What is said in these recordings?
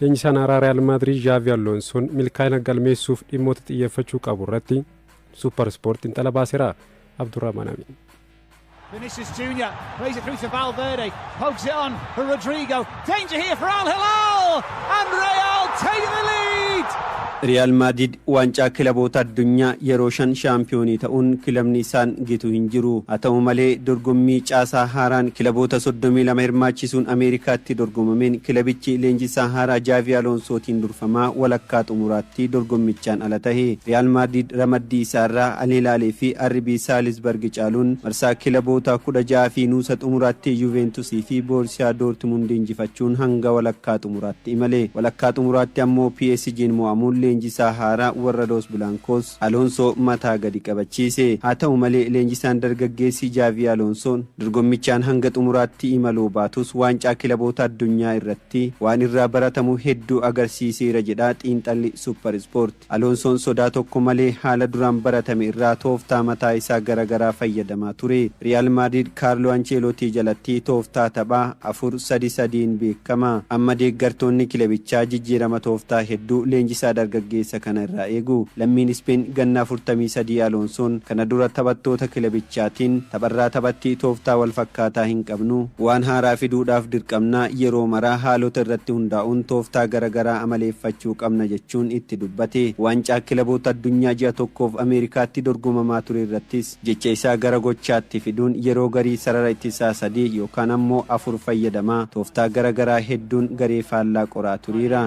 Leenjisaan haaraa Riyaal Maadriid Zhaavi Alloonsoon milkaa'ina galmeessuuf dhimmoota xiyyeeffachuu qabu irratti Suupper Ispoort xinxala baaseera. Abdurrahmaan Amiin. Vinicius Jr. plays it through to Valverde, pokes it on for Rodrigo. Danger here for Al Hilal! And Real take the lead! Riyaal Maadiid Waancaa Kilaboota Addunyaa yeroo shan shaampiyoonii ta'uun kilabni isaan gitu hin jiru. Haa ta'u malee, dorgommii caasaa haaraan kilaboota soddomii lama hirmaachisuun Ameerikaatti dorgomameen kilabichi leenjisaa haaraa Jaavii Aloonsootiin durfamaa walakkaa xumuraatti dorgommichaan ala tahe. Riyaal Maadriid ramaddii isaa irraa Al Hilaal fi RB Saalisbarg caaluun marsaa kilaboota kudha ja'a fi nuusa xumuraatti Yuuveentus fi Boorsiyaa Doortimundi injifachuun hanga walakkaa xumuraatti imale. Walakkaa xumuraatti ammoo PSG'n mo'amuun leenjisaa haaraa warra Los Blancos, Alonsoo mataa gadi qabachiise. Haa ta'u malee, leenjisaan dargaggeessi Xavi Alonso'n dorgommichaan hanga xumuraatti imaluu baatus Waancaa Kilaboota Addunyaa irratti waan irraa baratamu hedduu agarsiiseera jedha xiinxalli Super Sport. Aloonsoon sodaa tokko malee haala duraan baratame irraa tooftaa mataa isaa gara garaa fayyadamaa ture. Riyaal Maadriid Kaarloo Ancheelootii jalatti tooftaa tapha afur sadi sadiin beekama. Amma deeggartoonni kilebichaa jijjiirama tooftaa hedduu leenjisaa dargaggeessa kana irraa eegu. Lammiin Ispeen ganna afurtamii sadii Aloonsoon kana dura taphattoota kilebichaatiin tapharraa taphatti tooftaa wal fakkaataa hin qabnu. Waan haaraa fiduudhaaf dirqamna. Yeroo mara haalota irratti hundaa'uun tooftaa gara garaa amaleeffachuu qabna jechuun jechuun itti dubbate. Waancaa Kilaboota Addunyaa ji'a tokkoof Ameerikaatti dorgomamaa ture irrattis jecha isaa gara gochaatti fiduun yeroo garii sarara ittisaa sadii yookaan ammoo afur fayyadamaa tooftaa gara garaa hedduun garee faallaa qoraa turiira.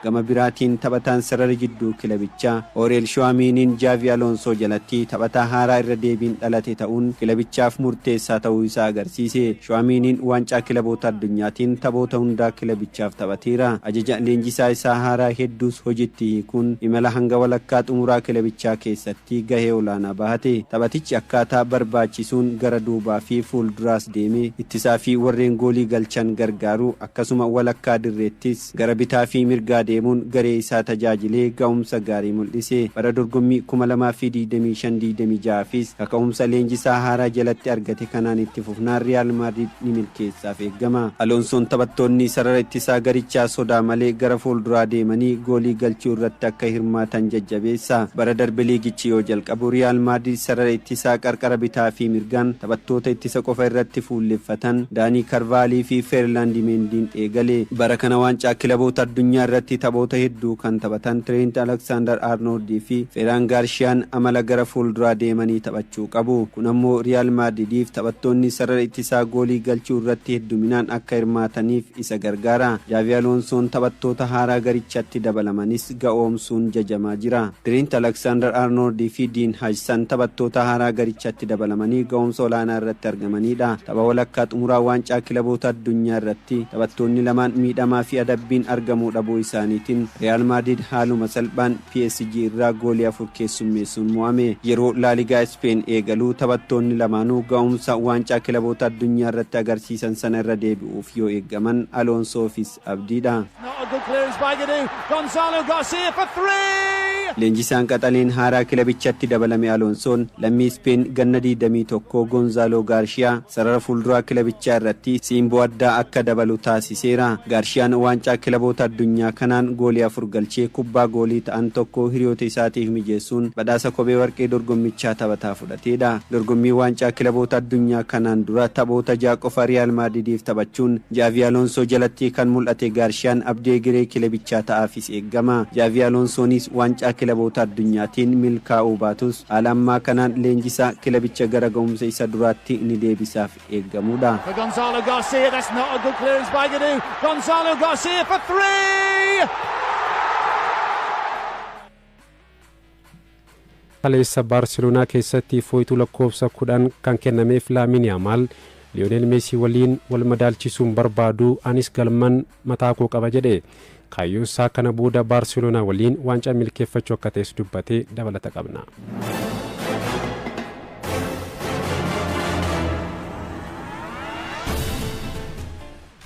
Gama biraatiin taphataan sarara jidduu kilabichaa Ooriyel Shuwaamiiniin Jaavi Aloonsoo jalatti taphataa haaraa irra deebiin dhalate ta'uun kilabichaaf murteessaa ta'uu isaa agarsiise. Shuwaamiiniin Waancaa Kilaboota Addunyaatiin taphoota hundaa kilabichaaf taphateera. Ajaja leenjisaa isaa haaraa hedduus hojiitti hiikuun imala hanga walakkaa xumuraa kilabichaa keessatti gahee olaanaa bahate. Taphatichi akkaataa barbaachisuun gara duubaa fi fuulduraas deemee ittisaa fi warreen goolii galchan gargaaruu akkasuma walakkaa dirreettis Gara bitaa fi mirgaa deemuun garee isaa tajaajilee ga'umsa gaarii mul'ise. Bara dorgommii 2025, 26 fis kaka'umsa leenjisaa haaraa jalatti argate kanaan itti fufnaan Riyaal Maadriid ni milkeessaaf eegama. Aloonsoon taphattoonni sarara ittisaa garichaa sodaa malee gara fuulduraa deemanii goolii galchuu irratti akka hirmaatan jajjabeessa. Bara darbe liigichi yoo jalqabu Riyaal Maadriid sarara ittisaa qarqara bitaa fi mirgaan, Taphattoota ittisa qofa irratti fuulleffatan Daanii Karvaalii fi Ferlaandi Meendiin eegale. Bara kana Waancaa Kilaboota Addunyaa irratti taphoota hedduu kan taphatan Tireent Aleksaandar Arnooldi fi Feraan Gaarshiyaan amala gara fuulduraa deemanii taphachuu qabu. Kun ammoo Riyaal Maadridiif taphattoonni sarara ittisaa goolii galchuu irratti hedduminaan akka hirmaataniif isa gargaara. Jaavi Aloonsoon taphattoota haaraa garichatti dabalamanis. ga'oomsuun jajamaa jira. Tiriint Aleksaandar Arnooldi fi Diin Hajsan taphattoota haaraa garichatti dabalamanii ga'oomsa olaanaa irratti argamaniidha. Tapha walakkaa xumuraa Waancaa Kilaboota Addunyaa irratti taphattoonni lamaan miidhamaa fi adabbiin argamuu dhabuu isaaniitiin Riyaal Maadriid haaluma salphaan PSG irraa goolii afur keessummeessuun mo'ame. Yeroo Laaligaa Ispeen eegalu taphattoonni lamaanuu ga'oomsa Waancaa Kilaboota Addunyaa irratti agarsiisan sana irra deebi'uuf yoo eeggaman Aloonsoo fi. Abdii dha. Leenjisaan qaxaleen haaraa kilabichatti dabalame Aloonsoon lammii Ispeen ganna 21 Gonzaaloo Gaarshiyaa sarara fuulduraa kilabichaa irratti siimboo addaa akka dabalu taasiseera. Gaarshiyaan waancaa kilaboota addunyaa kanaan goolii afur galchee kubbaa goolii ta'an tokko hiriyoota isaatiif mijeessuun badhaasa kophee warqee dorgommichaa taphataa fudhateedha. Dorgommii Waancaa Kilaboota Addunyaa kanaan dura taphoota ja'a qofa Riyaal Maadridiif taphachuun Jaavii Aloonsoo jalatti kan mul'ate Gaarshiyaan abdii egeree kilebichaa ta'aafis eegama. Jaavii Aloonsoonis Waancaa Kilaboota Addunyaatiin milkaa'uu baatus haala ammaa kanaan leenjisaa kilabicha gara ga'umsa isa duraatti ni deebisaaf eegamuudha. For Gonzalo Garcia, that's not a good clearance by Gadu. Gonzalo Garcia for three! Kaleessa Baarseloonaa keessatti fooytuu lakkoofsa 10 kan kennameef Laamiin Yaamaal, Liyoonel Meesii waliin wal madaalchisuu hin barbaadu, anis galman mataa koo qaba jedhe. Kaayyoon isaa kana booda Baarseloonaa waliin waancaa milkeeffachuu akka ta'es dubbate. Dabalata qabna.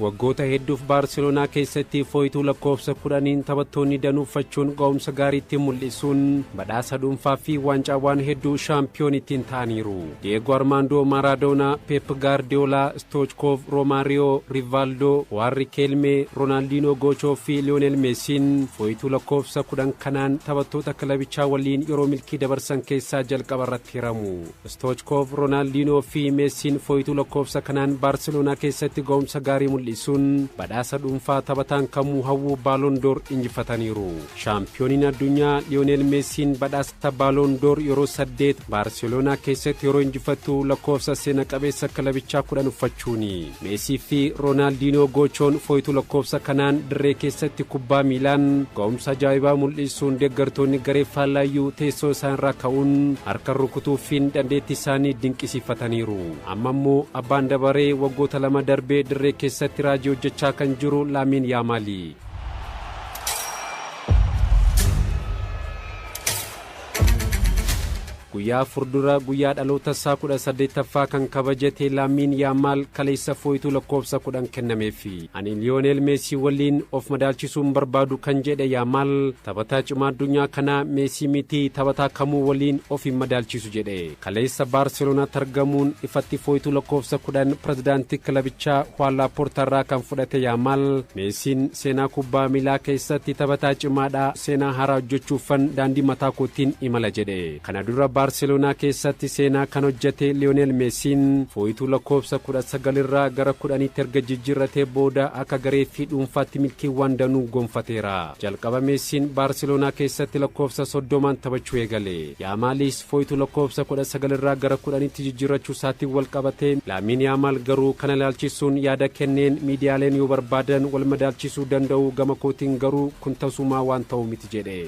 Waggoota hedduuf Baarseloonaa keessatti fooytuu lakkoofsa 10n taphattoonni danuu uffachuun ga'umsa gaarii ittiin mul'isuun badhaasa dhuunfaa fi waancaawwaan hedduu shaampiyoon ittiin ta'aniiru. Diyeegoo Armaandoo Maaraadoonaa, Peep Gaardiyoolaa, Stoochkoov, Roomaariyoo, Rivaaldoo, Waan Rikeelmee, Roonaaldiinoo Goochoo fi Liyoonel Meesiin fooytuu lakkoofsa 10 kanaan taphattoota kilabichaa waliin yeroo milkii dabarsan keessaa jalqaba irratti hiramu. Stoochkoov, Roonaaldiinoo fi Meessiin fooytuu lakkoofsa kanaan Baarseloonaa keessatti ga'umsa gaarii mul'isuun badhaasa dhuunfaa taphataan kamuu hawwu Baaloon Door injifataniiru. Shaampiyooniin addunyaa Liyooneel Meessiin badhaasa Baaloon Door yeroo saddeet Baarseloonaa keessatti yeroo injifattu lakkoofsa seena qabeessa kilabichaa kudhan uffachuuni. Meesii fi Roonaaldinoo Goochoon fooytuu lakkoofsa kanaan dirree keessatti kubbaa miilaan ga'umsa ajaa'ibaa mul'isuun deeggartoonni garee faallaayyuu teessoo isaanirraa ka'uun harka rukutuufiin dandeettii isaanii dinqisiifataniiru. Amma immoo abbaan dabaree waggoota lama darbee dirree keessatti raajii hojjechaa kan jiru Laamiin Yaamaali. Guyyaa afur dura guyyaa dhalootasaa 18ffaa kan kabajate Laamiin Yaamaal kaleessa fooytuu lakkoofsa 10 kennameefi. Ani Liyooneel Meesii waliin of madaalchisuu hin barbaadu kan jedhe Yaamaal, taphataa cimaa addunyaa kanaa Meesii miti taphataa kamuu waliin of hin madaalchisu jedhe. Kaleessa Baarseloonaatti argamuun ifatti fooytuu lakkoofsa 10 pirezidaantii kilabichaa Huwaan Laappoortaarraa kan fudhate Yaamaal, Meesiin seenaa kubbaa miilaa keessatti taphataa cimaadha, seenaa haaraa hojjechuuffan daandii mataa kootiin imala jedhe. Kana dura Baarseloonaa keessatti seenaa kan hojjete Liyoneel Meesiin fooytuu lakkoofsa 19 irraa gara 10tti erga jijjiirratee booda akka garee fi dhuunfaatti milkiiwwan danuu gonfateera. Jalqaba Meesiin Baarseloonaa keessatti lakkoofsa 30n taphachuu eegale. Yaamaalis Foytu lakkoofsa 19 irraa gara 10tti jijjiirrachuu isaatiin walqabatee Laamiin Yaamaal garuu kana ilaalchisuun yaada kenneen miidiyaaleen yoo barbaadan wal madaalchisuu danda'u gama kootiin garuu kun tasumaa waan ta'u miti jedhe.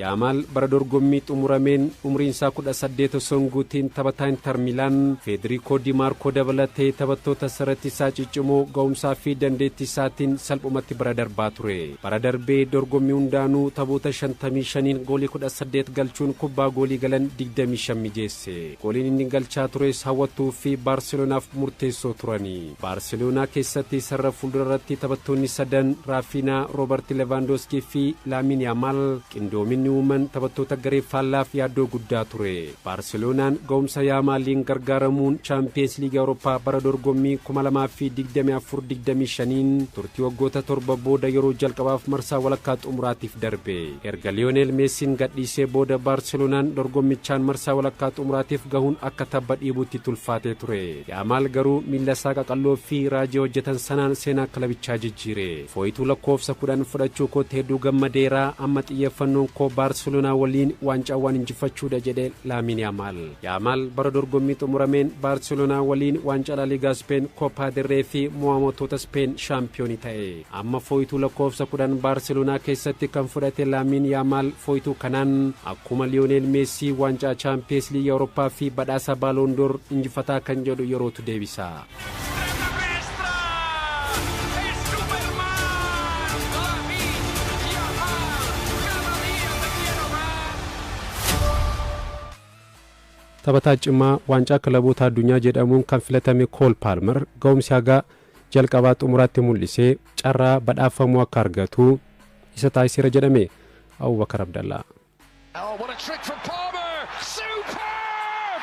Yaamaal bara dorgommii xumurameen umriinsaa 18 osoo hin guutiin taphataa Intar Miilaan Feediriikoo Di Maarkoo dabalatee taphattoota sarati isaa ciccimoo ga'umsaa fi dandeettii isaatiin salphumatti bira darbaa ture. Bara darbe dorgommii hundaanuu taphoota 55n goolii 18 galchuun kubbaa goolii galan 25 mijeesse. Gooliin inni galchaa tures hawwattuu fi Baarselonaaf murteessoo turani. Baarseloonaa keessatti sarara fuuldura irratti taphattoonni sadan Raafiinaa, Roobarti Levaandooskii fi Laamiin Yaamaal qindoominni uuman taphattoota garee faallaaf yaaddoo guddaa ture. Baarseloonaan ga'umsa Yaamaaliin gargaaramuun Chaampiyeens Liigii Awurooppaa bara dorgommii kuma lamaa fi digdamii afur digdamii shaniin turtii waggoota torba booda yeroo jalqabaaf marsaa walakkaa xumuraatiif darbe. Erga Liyooneel Meesiin gadhiisee booda Baarseloonaan dorgommichaan marsaa walakkaa xumuraatiif gahuun akka tabba dhiibuutti itti ulfaatee ture. Yaamaal garuu miillasaa qaqalloo fi raajii hojjetan sanaan seenaa kilabichaa jijjiire. Fooyituu lakkoofsa 10 fudhachuu kootti hedduu gammadeera, amma xiyyeeffannoon koo Baarseloonaa waliin waancaawwan injifachuudha jedhe Laamiin Yaamaal. Yaamaal bara dorgommii xumurameen Baarseloonaa waliin waancaa Laaliigaa Ispeen, Koppaa del Ree fi mo'amotoota Ispeen shaampiyoonii ta'e. Amma fooytuu lakkoofsa 10 Baarseloonaa keessatti kan fudhate Laamiin Yaamaal fooytuu kanaan akkuma Liyooneel Meessii waancaa Chaampiyees Liigii Awurooppaa fi badhaasa Baaloon Door injifataa kan jedhu yerootu deebisa. Taphataa cimaa waancaa kilaboota addunyaa jedhamuun kan filatame Kool Paalmer ga'umsi haga jalqabaa xumuraatti mul'isee carraa badhaafamuu akka argatu isa taasiseera jedhame Abubakar Abdallaa. Oh, what a trick from Palmer! Superb!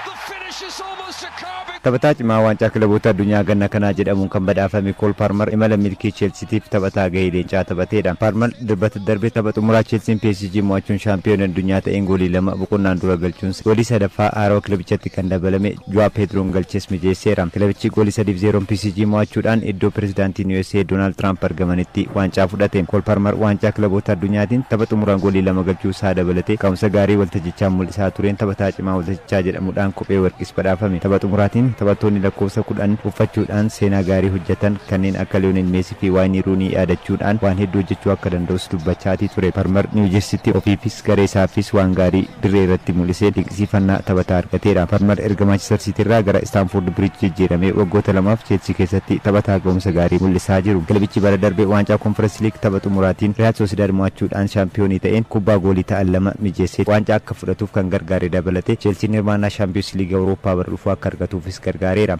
The finish is almost a carbon. Taphataa cimaa waancaa kilaboota addunyaa ganna kanaa jedhamuun kan badhaafame Kool Paarmar imala milkii Cheelsitiif taphataa gahee leencaa taphateedha. Paarmar dilbata darbe tapha xumuraa Cheelsiin PSG mo'achuun shaampiyoonii addunyaa ta'een goolii lama boqonnaan dura galchuun goolii sadaffaa haarawa kilabichatti kan dabalame. Joao Pedroon galches mijeesseera. Kilabichi goolii 3 fi 0n PSG mo'achuudhaan iddoo pirezidaantiin usa Doonaald Tiraamp argamanitti waancaa fudhate. Kool Palmar waancaa kilaboota addunyaatiin tapha xumuraa goolii lama galchuu isaa dabalatee ka'umsa gaarii waltajjichaan mul'isaa tureen taphataa cimaa waltajjichaa jedhamudhaan kophee warqiis badhaafame. Tapha xumuraatiin taphattoonni lakkoofsa 10 uffachuudhaan seenaa gaarii hojjatan kanneen akka Lionel Messi fi. fi Waayinii Ruunii yaadachuudhaan waan hedduu hojjechuu akka danda'us dubbachaatii ture. Palmer Niiw Jersitti ofiifis garee isaafis waan gaarii dirree irratti mul'iseen dinqisiifannaa taphataa argateera. Palmer erga Maanchistar Siitii irraa gara Istaanfoord Biriij jijjiiramee waggoota lamaaf Cheelsii keessatti taphataa ga'umsa gaarii mul'isaa jiru. Kilabichi bara darbe waancaa Konferensi Liig tapha xumuraatiin Riyaal Soosidaad mo'achuudhaan shaampiyoonii ta'een kubbaa goolii ta'an lama mijeessee waancaa akka fudhatuuf kan gargaare dabalatee Cheelsiin hirmaannaa Shaampiyoonsi Liigii Awurooppaa bara dhufu akka argatuufis gargaareera.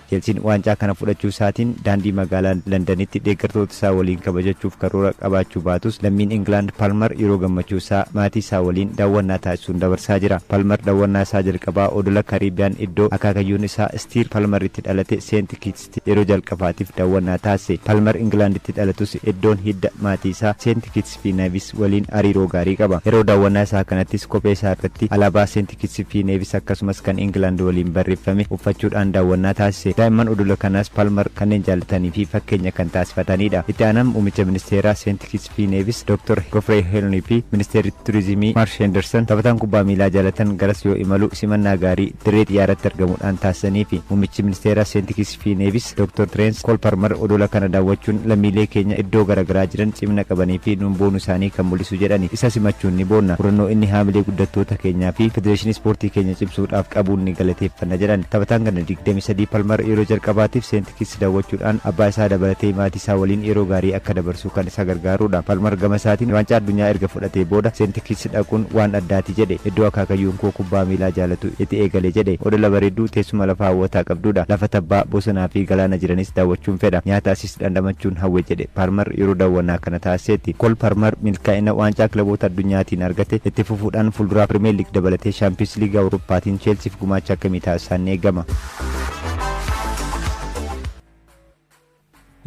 Chelsiin waancaa kana fudhachuu isaatiin daandii magaalaa Landanitti deeggartoota isaa waliin kabajachuuf karoora qabaachuu baatus lammiin Ingilaand Palmer yeroo gammachuu isaa maatii isaa waliin daawwannaa taasisuun dabarsaa jira. Palmer dawwannaa isaa jalqabaa odola Caribbean iddoo akaakayyuun isaa Stiir Palmer itti dhalate Seent Kiits yeroo jalqabaatiif daawwannaa taasise. Palmer Ingilaanditti dhalatus iddoon hidda maatii isaa Seenti Kitsi fi Nevis waliin hariiroo gaarii qaba. Yeroo daawwannaa isaa kanattis kophee isaa irratti alaabaa Seenti Kitsi fi Nevis akkasumas kan Ingilaand waliin barreeffame uffachuudhaan daawwannaa taasise. Daa'imman odola kanaas Palmer kanneen jaallatanii fi fakkeenya kan taasifataniidha. Itti aanaan muumicha ministeeraa Seenti Kitsi. fi Neevis Dr. Gofrey Helney fi Ministeerri Turizimii Marsh Henderson taphataan kubbaa miilaa jaalatan garas yoo imalu simannaa gaarii dirree xiyyaaratti argamuudhaan taasisaniifi. Muummichi Ministeeraa Seenti Kits fi Neevis Dr. Tireens Kool Parmar odola kana daawwachuun lammiilee keenya iddoo gara garaa jiran cimina qabanii fi nuun boonu isaanii kan mul'isu jedhani. Isa simachuun ni boonna. Murannoo inni haamilee guddattoota keenyaa fi Federeeshinii Ispoortii keenya cimsuudhaaf qabuun ni galateeffanna jedhan. Taphataan ganna 23 Palmar yeroo jalqabaatiif Seenti. Kids dawwachuudhaan abbaa isaa dabalatee maatii isaa waliin yeroo gaarii akka dabarsuu kan isa gargaaruudha. Palmar gama isaatiin Waancaa Addunyaa erga fudhatee booda St Kitts dhaquun waan addaati jedhe. Iddoo akaakayyuun koo kubbaa miilaa jaalatu iti eegale jedhe. Odola bareedduu teessuma lafa hawwataa qabduudha. Lafa tabbaa, bosonaa fi galaana jiranis daawwachuun fedha. Nyaata asiis dhandhamachuun hawwe jedhe Palmar yeroo dawwannaa kana taasiseetti. Kool Palmar milkaa'ina Waancaa Kilaboota Addunyaatiin argate itti fufuudhaan fuulduraaf Pirimeer Liig dabalatee Shaampiyoonsi Liigii Awurooppaatiin Cheelsiif gumaacha akkamii taasisaan ni eegama.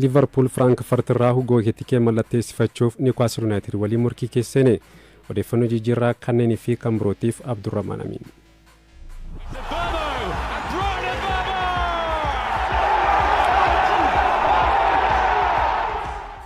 liivarpuul firaankfart irraa hugoo ekitikee mallatteessifachuuf niwkaasl yuunaayitid waliin morkii keessa seene odeeffannoo jijjiirraa kanneenii fi kan birootiif abdurrahmaan amiin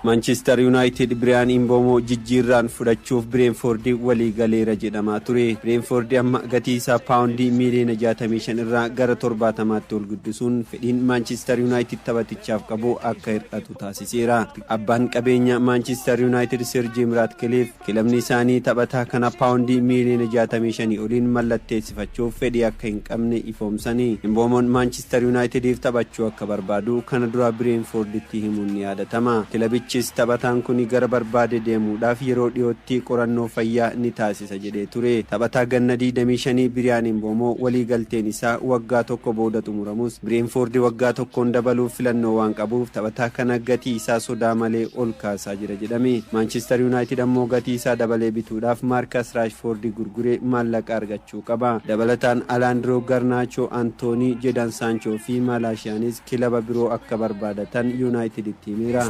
Maanchister Yunaayitid Biriyaan Imboomoo jijjiirraan fudhachuuf Bireenfoordi walii galeera jedhamaa ture. Bireenfoordi amma gatii isaa paawundii miiliyoona jaatamii shan irraa gara torbaatamaatti ol guddisuun fedhiin Maanchister Yunaayitid taphatichaaf qabu akka hir'atu taasiseera. Abbaan qabeenyaa Maanchister Yunaayitid Sir Jiim Raatkiliif. Kilabni isaanii taphataa kana paawundii miiliyoona 65 oliin mallatteessifachuuf fedhii akka hin qabne ifoomsanii, Imboomoon Maanchister Yuunaayitidiif taphachuu akka barbaadu kana dura Bireenfoorditti himuun ni yaadatama. Kilabichis taphataan kuni gara barbaade deemuudhaaf yeroo dhiyootti qorannoo fayyaa ni taasisa jedhee ture. Taphataa ganna 25 Biriyaan Imboomoo waliigalteen isaa waggaa tokko booda xumuramus, Bireenfoordi waggaa tokkoon dabaluuf filannoo waan qabuuf taphataa kana gatii isaa sodaa malee ol kaasa. hojjechaa jira jedhame. Maanchister Yuunaayitid ammoo gatii isaa dabalee bituudhaaf Maarkas Raashfoordi gurguree maallaqa argachuu qaba. Dabalataan Alaandiroo Garnaachoo, Antoonii, Jedan Saanchoo fi Maalaashiyaanis kilaba biroo akka barbaadatan Yuunaayitiditti himeera.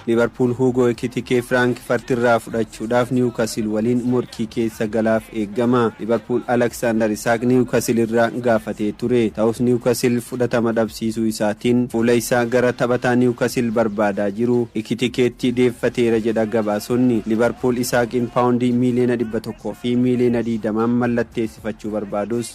Liivarpuul Huugoo Ekitikee Firaankifart irraa fudhachuudhaaf Niiwukasil waliin morkii keessa galaaf eegama. Liivarpuul Alaksaandar Isaak Niiwukasil irraa gaafatee ture. Ta'us Niiwukasil fudhatama dhabsiisuu isaatiin fuula isaa gara taphataa Niiwukasil barbaadaa jiru Ekitikeetti deeffateera jedha gabaasonni. Liivarpuul Isaaqiin paawundii miiliyoona dhibba tokkoo fi miiliyoona digdamaan mallatteessifachuu barbaadus.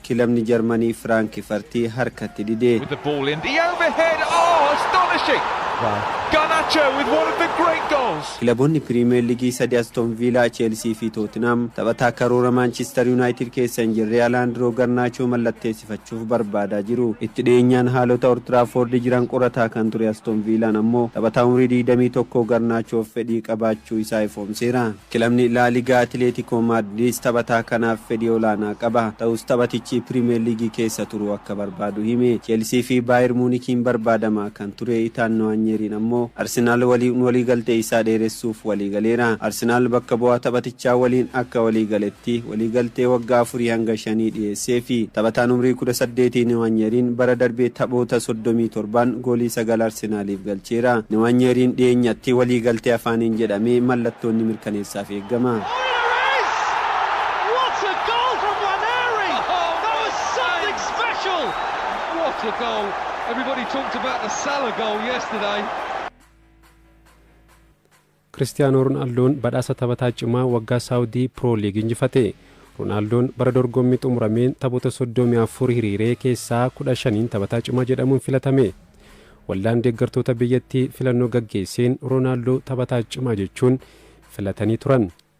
Kilabni Jarmanii Firaankifarti harkatti dide. With the ball in the overhead oh astonishing Garnacho with one of the great goals. Kilaboonni Piriimeer Ligii sadi Aston Viilaa, Cheelsii fi Tootinhaam taphataa karoora Maanchister Yuunaayitid keessa hin jirre Alaandroo Garnaachoo mallatteessifachuuf barbaadaa jiru. Itti dhiyeenyaan haalota Oltiraafoordi jiran qorataa kan ture Aston Viilaan ammoo taphataa umrii 21 Garnaachoof fedhii qabaachuu isaa ifoomseera. Kilabni Laa Ligaa Atileetikoo Maadriidis taphataa kanaaf fedhii olaanaa qaba. Ta'us taphatichi Piriimeer Liigii keessa turuu akka barbaadu hime. Cheelsii fi Baayir Muunikiin barbaadamaa kan ture Itaan Niwaanyeeriin ammoo Arsenaal waliin waliigaltee isaa dheeressuuf waliigaleera. Arsenaal bakka bu'aa taphatichaa waliin akka waliigale. Liigichaatti waliigaltee waggaa afurii hanga shanii dhiyeesseefi. Taphataan umrii kudha saddeetii Niwaanyeeriin bara darbe taphoota soddomii torbaan goolii sagal Arsenaaliif galcheera. Niwaanyeeriin dhiyeenyatti waliigaltee afaaniin jedhamee mallattoon ni mirkaneessaaf eegama. Kiristiyaanoo Ronaaldoon badhaasa taphataa cimaa waggaa Saawudii Pro League injifate. Ronaaldoon bara dorgommii xumurameen taphoota 34 hiriiree keessaa 15n taphataa cimaa jedhamuun filatame. Waldaan deeggartoota biyyattii filannoo gaggeesseen Ronaaldoo taphataa cimaa jechuun filatanii turan.